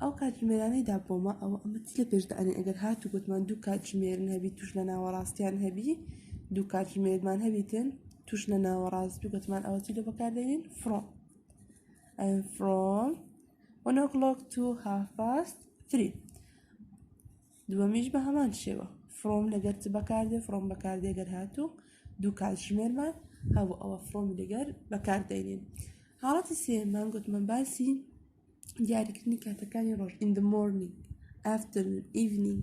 ئەو کاتژمێرانەی دابۆمە ئەوە ئەمە چ لە پێش دانی ئەگەر هات و گوتمان دوو کاتژمێرن هەبی توش لە ناوەڕاستیان هەبی دوو کاتژمێرمان هەبیتن توش لە ناوەڕاست دوو گوتمان ئەوە چی لە بەکاردێنین فڕۆ فڕۆ one o'clock to half past three دووەمیش بە هەمان شێوە فڕۆم لەگەر چ بەکاردێ فڕۆم بەکاردێ گەر هاتوو دوو کاتژمێرمان هەبوو ئەوە فڕۆم لەگەر بەکاردێنین حاڵەتی سێمان گوتمان باسی دیاریکردنی کاتەکانی ڕۆژ in the morning afternoon evening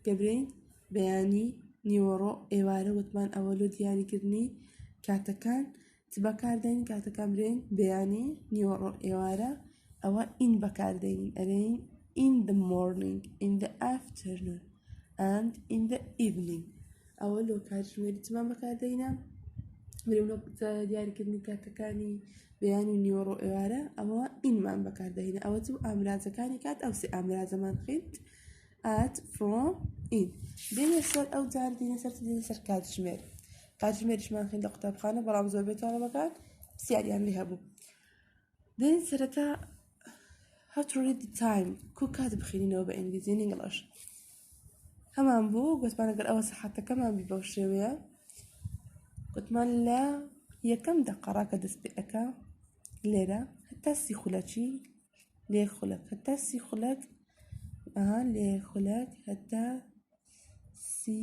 دەبرێین بەیانی نیوەڕۆ ئێوارە وتمان ئەوە لۆ دیاریکردنی کاتەکان چ بەکاردێن کاتەکان برێن بەیانی نیوەڕۆ ئێوارە ئەوە in بەکاردێنین ئەرێین in the morning in the afternoon and in the evening ئەوە لۆ کاتژمێری چمان بەکاردەینە برێ لۆ دیاریکردنی کاتەکانی بەیان و نیوەڕۆ ئێوارە ئەوە ئینمان بەکاردەینە ئەوە چ ئامرازەکانی کات ئەو سێ ئامرازەمان خیت ئات فڕۆ ئین دێنە سەر ئەو جار دێنە سەر دێنە سەر کاتژمێر کاتژمێریشمان خین لە قوتابخانە بەڵام زۆربەی تاڵەبەکان سیاریان لێ هەبوو دەین سەرەتا how to read the time کو کات بخینینەوە بە ئینگلیزی نیگڵش هەمان بوو گوتمان گەر ئەوە سەحاتەکەمان بی بەو شێوەیە گوتمان لە یەکەم دەقەڕا کە دەست پێ ئەەکە لێرە هەتا سی خولەچی لێ خولەک هەتا سی خولەک ئەها لێ خولەک هەتا سی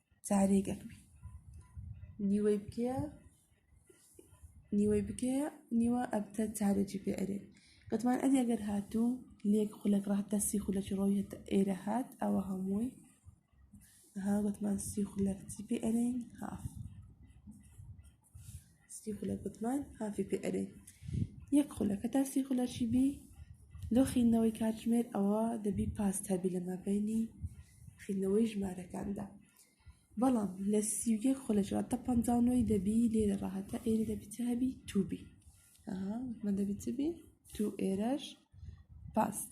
جارێک ئەکبی نیوەی بکێ نیوەی بکێ نیوە ئەبتە جارێکی پێ ئەرێ گەتمان ئەدی ئەگەر هاتوو لێک خولەک ڕات دەستی خولەکی ڕۆیە ئێرە هات ئەوە هەمووی ها گەتمان سی خولەک چی پێ ئەرین هاف سی خولەک وتمان هافی پێ ئەدەین یەک خولەک هەتا سی خولەکی بی لۆ خینەوەی کاتژمێر ئەوە دەبی پاس هەبی لە مابینی خینەوەی ژمارەکاندا بەڵام لە سی و یەک خولەکەوە تا پەنجا و نۆی دەبی لێرە ڕاهەتا ئێرە دەبی چ هەبی تو بی ئەها وتمان دەبی چ بی تو ئێرەش پاست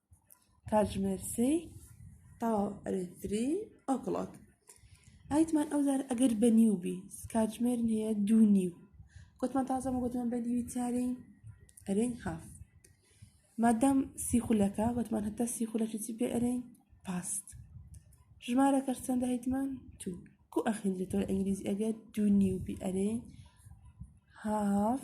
کاتژمێر سێی تەواو ئەرێ تری ئەو کڵۆک ئایتمان ئەو زار ئەگەر بە نیو بی کاتژمێر نیە دوو نیو گوتمان تازەمە گوتمان بە دیوی چارین ئەرێن هاف مادەم سی خولەکە گوتمان هەتا سی خولەکی چی پێ ئەرێن پاست ژمارەکەش چەندە هیتمان تو کو ئەخیندێتەوە ئینگلیزی ئەگەر دوو نیو بی ئەرێن هاف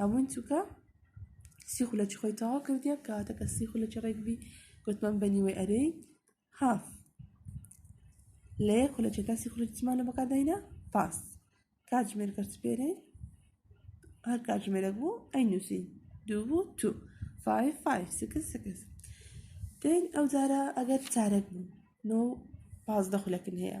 هەمووی چووکە سی خولەکی خۆی تەوا کردیە کاتەکە سی خولەکی ڕێکبی گوتمان بەنیوەی ئەرێ هاف لە یەک خولەکێکا سی خولەکیمانە بەکداینە پاس کاتژمێر کەرت پێرێ هەر کاتژمێرە بوو ئەی نووسین دوو بوو تو فایف فایف سکس سکس دەین ئەو جارە ئەگەر چارەک بوو نۆ پازدە خولەکن هەیە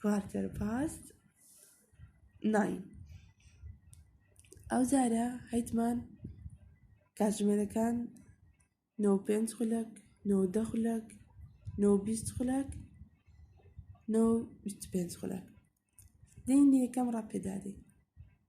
کوارتەر پاست ناین ئەو جارە هەیتمان کاتژمێرەکان نۆ پێنج خولەک نۆ دە خولەک نۆ بیست خولەک نۆ بیست پێنج خولەک دەین یەکەم ڕاپێدادەین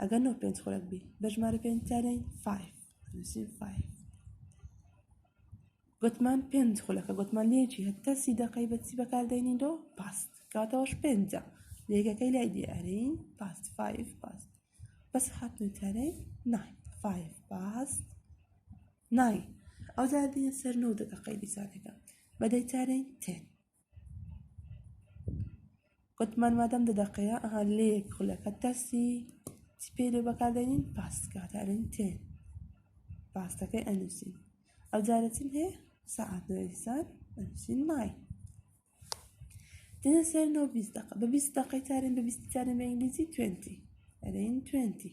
ئەگەر نۆ پێنج خولەک بی بە ژمارە پێنج تانین فایف نووسین فایف گوتمان پێنج خولەکە گوتمان لێکی هەتا سی دەقەی بەچی بەکاردێنین دۆ پاست کاتەوەش پێنجە لێگەکەی لای دیارین پاست فایف پاست بەس هاتنی تارەی نای فایف پاست نای ئەو زاردینە سەر نۆ دەقەی دیسانەکە بەدەی تارەی تێن وتمان مادەم دە دەقەیە ئەها لە یەک خولەکە تەرسی چی پێی لێ بەکاردێنین پاستکە دەڵێن تێن پاستەکەی ئەنووسین ئەو جارە چیم هەیە سەعات نوێسان ئەنووسین مای دێنە سەر نۆ بیست دەقە بە بیست دەقەی تارن بە بیست تارن بە ئینگلیزی توێنتی ئەرێن توێنتی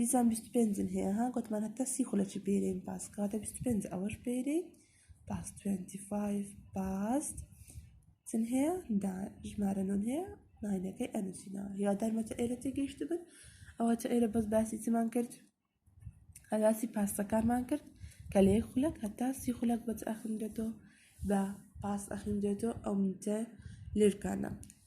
دیسان بیست و پێنجم هەیە ها گوتمان هەتا سی خولەکی بینین باس کەواتە بیست و پێنج ئەوەش بینین باس توێنتی فایف باس چن هەیە دا ژمارە نۆن هەیە ناینەکەی ئەنووسینەوە هیوادارمەتە ئێرە تێگەیشت بن ئەوە چ ئێرە بەس باسی چمان کرد هەلاسی پاسەکانمان کرد کە لە یەک خولەک هەتا سی خولەک بەچ ئەخندێتەوە بە پاس ئەخیندێتەوە ئەو منتە لێرکانە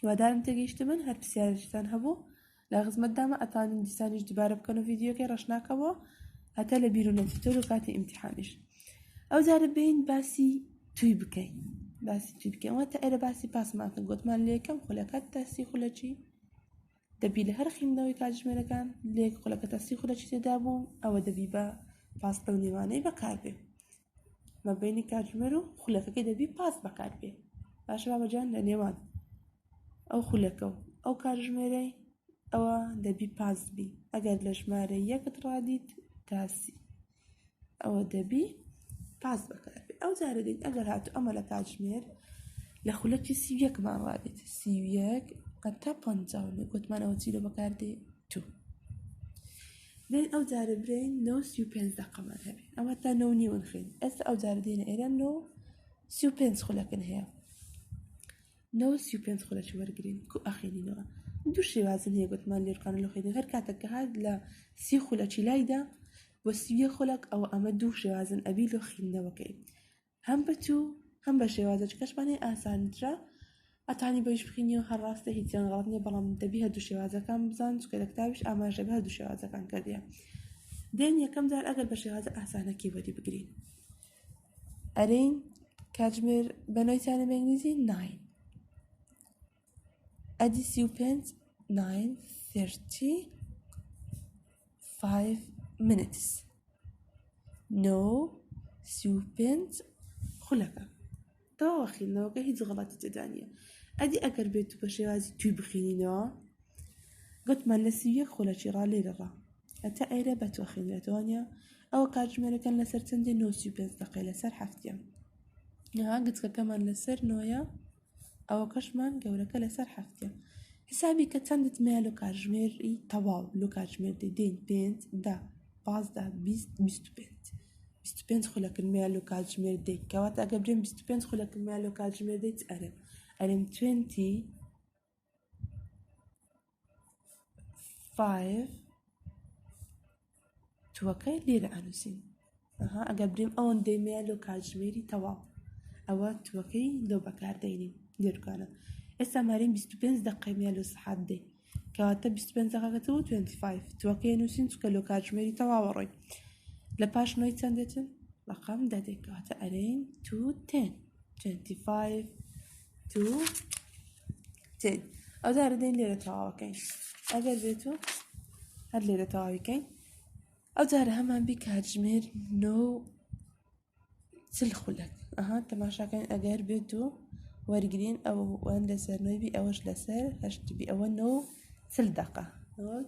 هیوادارم تێگەیشتبن هەر پرسیارێکتان هەبوو لە خزمەتدامە ئەتوانین دیسانیش دوبارە بکەن و ڤیددیوکەی ڕەشناکەەوە هەتا لە بیر و نەچیتۆر و کاتی ئیمتحانیش ئەو جارە بین باسی توی بکەین باسی توی بکەین واتە ئەرە باسی پاسماکە گوتمان لە یەکەم خولەکەت تاسی خولەچی دەبی لە هەر خویندنەوەی کاتژمێرەکان لە یەک خولەکە تەستی خولەکی تێدابوو ئەوە دەبی بە پاس ئەو نێوانەی بەکاربێ مە بینی کاتژمێر و خولەکەکەی دەبی پاس بەکاربێ باشە بابەجان لە نێوان ئەو خولەکە و ئەو کاتژمێرەی ئەوە دەبی پاس بی ئەگەر لە ژمارە یەکت ڕادیت تاسی ئەوە دەبی پاس بەکار بێ ئەو جارە دێت ئەگەر هاتو ئەمە لە کاتژمێر لە خولەکی سی یەکمان ڕادێت سی یەک تا پ گوتمانەوە چی لە بەکار دێ تو دێن ئەو جارە برین نۆ سی و پێنج دەقەمان هەبێ ئەمە تا نۆ نیوەن خوێن ئێستا ئەو جارە دێنە ئێرە نۆ سی و پێنج خولەکن هەیە نۆ سی و پێنج خۆ لەچ وەرگین کو ئەخێنینەوە دوو شێوازن هەیە گوتمان لێرکانە لە خێنی هەر کاتە کە هاات لە سی خولەچی لایدا وەسیە خولک ئەوە ئەمە دوو شێوازن ئەبی لۆ خیندنەوەکەی هەم بچوو هەم بە شێوازە چکەشمانێ ئاسانترە ئەتانی بەش بخینی و هەڕاستە هیچیان غڵات نیە بەڵام دەبی هەر دوو شێوازەکان بزان چکە لە کتابش ئاماژە بە هەر دوو شێوازەکان کردە دێن یەکەم جار ئەگەر بە شێوازە ئاسانەکی وەری بگرین ئەرین کاتژمێر بە ناویتانە بە ئینگلیزی ناین ئەدی سی و پێنج ناین ثرتی فایڤ منتس نۆ سی و پێنج خولەکە تەواوە خوێندنەوەکە هیچ غەڵەتی تێدا نییە ئەدی ئەگەر بێت و بە شێوازی توی بخینینەوە گوتمان لە سی یەک خۆلەکی ڕا لێرەڕا هەتا ئێرە بە تۆ خوێنرێتەوە نیە ئەوە کاتژمێرەکان لەسەر چەندێ نۆسی پێنج دەقەی لەسەر هەفتە نەها گچکەکەمان لەسەر نۆیە ئەوە کەشمان گەورەکە لەسەر هەفتە حسابی کە چەندت مێ لە کاتژمێری تەواو لە کاتژمێر دەدەین پێنج دا پازدە بیست بیست و پێنج بیست و پێنج خولەک المیا لۆ کاتژمێر دەیت کەواتە ئەگەر بێن بیست و پێنج خولەک المیا لۆ کاتژمێر دەیت ئەرێم ئەرێم توێنتی فایڤ توەکەی لێرە ئەنووسین ئەها ئەگەر بریم ئەوەندەی میا لۆ کاتژمێری تەواو ئەوە توەکەی لۆ بەکاردەینین لێرکانە ئێستا مارین بیست و پێنج دەقەی میا لۆ سەحات دەی کەواتە بیست و پێنج دەقەکە تۆ توێنتی فایڤ توەکەی نووسین چکە لۆ کاتژمێری تەواوە ڕۆی لە پاش نۆی چەند دێتن ڕقام دەدێک کەواتە ئەرین تو تێن توێنتی فایڤ تو تێن ئەو دارە دەین لێرە تەواوەکەین ئەگەر بێت و هەر لێرە تەواویکەین ئەو جارە هەمان بی کاتژمێر نۆ چل خولەک ئەها تەماشاکەن ئەگەر بێت و وەرگین ئەوە وان لەسەر نوێبی ئەوەش لەسەر هەشتبی ئەوە نۆ چل دەقە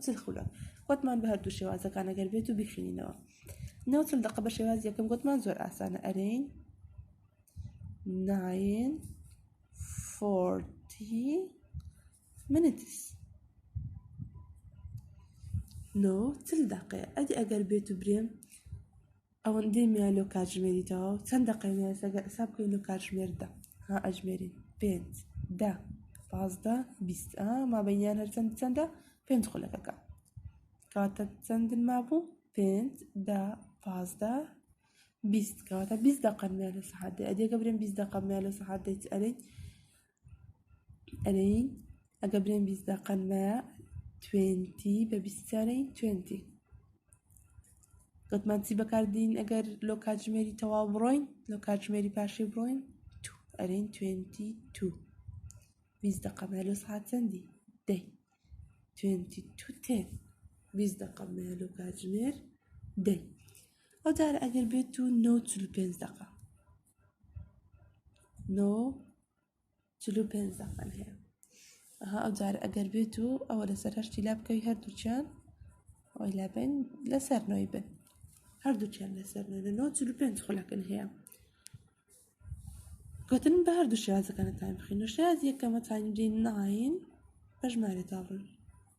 چل خولە وتمان بە هەردوو شێوازەکان ئەگەر بێت و بخینەوە نۆ چل دەقە بە شێواز یەکەم گوتمان زۆر ئاسانە ئەرین ناین فۆرتی منتس نۆ چل دەقەیە ئەدی ئەگەر بێت و برێم ئەوەندەی میا لۆ کاتژمێری تەواو چەند دەقەی مایە سەگە ئەسا بکەین لۆ کاتژمێر دە ها ئەژمێرین پێنج دە پازدە بیست ئا مابەینیان هەرچەند چەندە پێنج خولەکەکە کاتە چەندن مابوو پێنج دە پازدە بیست کاتە بیست دەقەمیان لە سەحات دەی ئەدێکە برێن بیست دەقەمیان لە سەحات دەیت ئەرین ئەرێی ئەگە برێن بیست دەقەن بە توێنتی بە بیستارەی توێنتی گوتمان چی بەکاردین ئەگەر لۆ کاتژمێری تەواو بڕۆین لۆ کاتژمێری پاشی بڕۆین تو ئەرێن توێنتی تو بیست دەقە بە لۆ سعات چەندی دەی توێنتی تو تێن بیست دەقە بە لۆ کاتژمێر دەی ئەو جارە ئەگەر بێت و نەوت چل پێنج دەقە نۆ چل و پێنج دەقەن هەیە ئەها ئەو جار ئەگەر بێت و ئەوە لەسەر هەشتی لا بکەوی هەردووچیان ئەوەی لا بین لەسەر نۆی بن هەردووچیان لەسەر نۆ لە نۆ چل و پێنج خولەکن هەیە گوتن بە هەردوو شێوازەکانە تایم بخین و شێاز یەکەمە تایم دێن ناین بە ژمارە تاڕن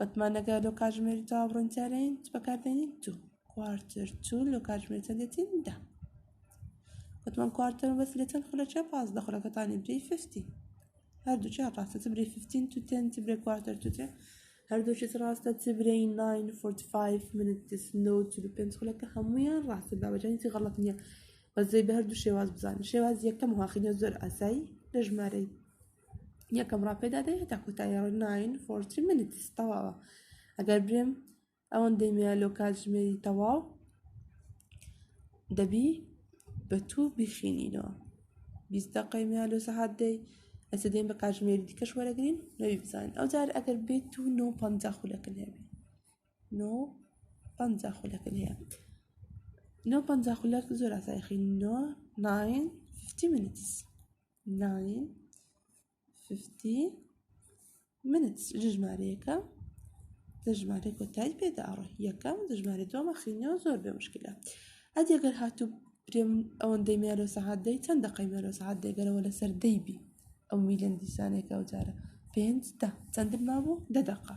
وتمان ئەگەر لۆ کاتژمێری تەواو بڕینتارین چ بەکاردێنین دوو کوارتر چوون لۆ کاتژمێر چەند دێتین دە وتمان کوارتر بەس لە چەند خولەک چیە پازدە خولەکەتانی برێی فیفتی هەردووکیان ڕاستە چ برێی فیفتین تو تێن چ برێ کوارتر تو تێن هەردووکیت ڕاستە چ برێی ناین فۆرتی فایف منتس نۆ چل و پێنج خولەکە هەموویان ڕاستە باوەجانی چی غەڵەت نییە بەزەی بە هەردوو شێواز بزانین شێواز یەکەم واقعینە زۆر ئاسایی لە ژمارەی یەکەم ڕا پێدا دێ هێتا کوتای ڕ ناین فۆرتی منت تەواوە ئەگەر برێم ئەوەن دەمێ لۆ کاتژمێری تەواو دەبی بە تو بخینینەوە بیستە قەیمە لۆ سەحات دەی ئەسە دێن بە کاتژمێری دیکەش وەرەگرین نەوی بزانین ئەو جار ئەگەر بێت تو نۆ پ خولەکە لێ نۆ پ خولەکە لێ نۆ پ خولەک زۆر ئاسایخینەوە ناین فتی منتس ناین ففتی منت ژمارەیەەکە دەژمارە کۆتای پێدا ئەڕۆ یەکەم دەژمارە دووە مەخینەوە زۆر بێ مشکلە ئەدی گەر هاتوو پرێم ئەوەن دەی مێرۆ سەعات دەی چەند دەقی مێرۆ سەعات دەگەرەوە لەسەر دەیبی ئەو میلەن دیسانێکە ئەو جارە پێنج دە چەندن مابوو دە دەقا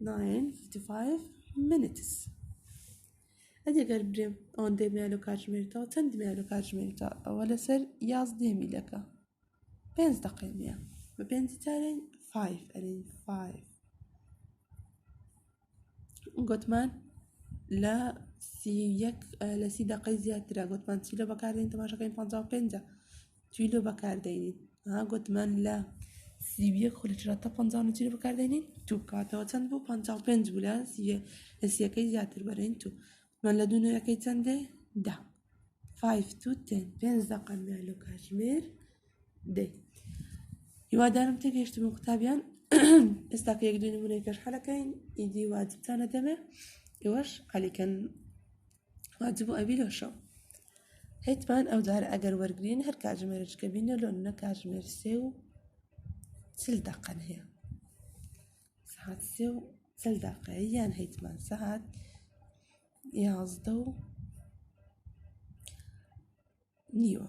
ناین فیفتی فایف منتس ئەدی گەر برێم ئەوەن دێ میانۆ کاتژمێرتەوە چەند میانۆ کاتژمێرتە ئەوە لەسەر یازدە میلەکە پێنج دەقەی نیە بە پێنج تارین فایف ئەرین فایف گوتمان لە سی یەک لە سی دەقەی زیاترە گوتمان چی لە بەکارێن تەماشەکەین پەنجا و پێنجە جی لۆ بەکاردێنین ها گوتمان لە سی و یەک خۆ لە چرا تا پەنجا و نۆ جی لۆ بەکاردێنین تو بکاتەوە چەند بوو پەنجا و پێنج بوو لە سی یە- لە سیەکەی زیاتر بەرین تو گوتمان لە دوو نۆیەکەی چەندێ دە فایف تو تێن پێنج دەقە مێ لۆ کاژمێر دەی هیوادارم تێگەیشتم و قوتابیان ئێستا کە یەک دوو نمونەی پێش حەلەکەین ئیدی واجبتانە دەمێ ئێوەش حەلیکەن واجب و ئەبی لۆشەو هەیتمان ئەو جارە ئەگەر وەرگین هەر کاتژمێرچکە بینە لۆن نە کاتژمێر سێ و چل دەقەن هەیە سعات سێ و چل دەقەیە یان هەیتمان سعات یازدە و نیوە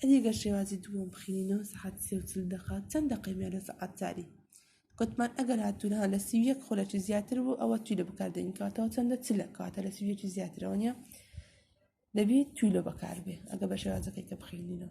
ئەدی گەر شێوازی دووەم بخینینەوە سەعاتی سێ و چل دەقە چەند دەقەی مێ لە سەعات چاری گوتمان ئەگەر هاتوونە لە سی و یەک خولەکی زیاتر بوو ئەوە توی لە بکاردێنین کاتەوە چەندە چ لە کاتە لە سی و یەکی زیاترەوە نیە دەبێت توی لە بەکاربێ ئەگە بە شێوازەکەی کە بخینینەوە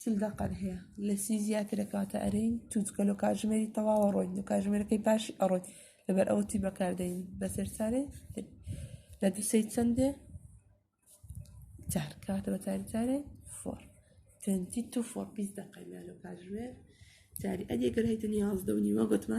چل دەقەر هەیە لە سی زیاترە کاتە ئەرین توچکەلو کاژمێری تەواوە ڕۆین و کاژمێرەکەی باشی ئەڕۆین لەبەر ئەوتی بەکاردەین بەسەر سارێ لە دوسەی چەندێ چار کاتە بە تاری چارێ فۆر تەنتی تو فۆر پیس دەقەیمانە کاژمێر جاری ئەدێگەرای دنیاازدە و نیوە گوتمان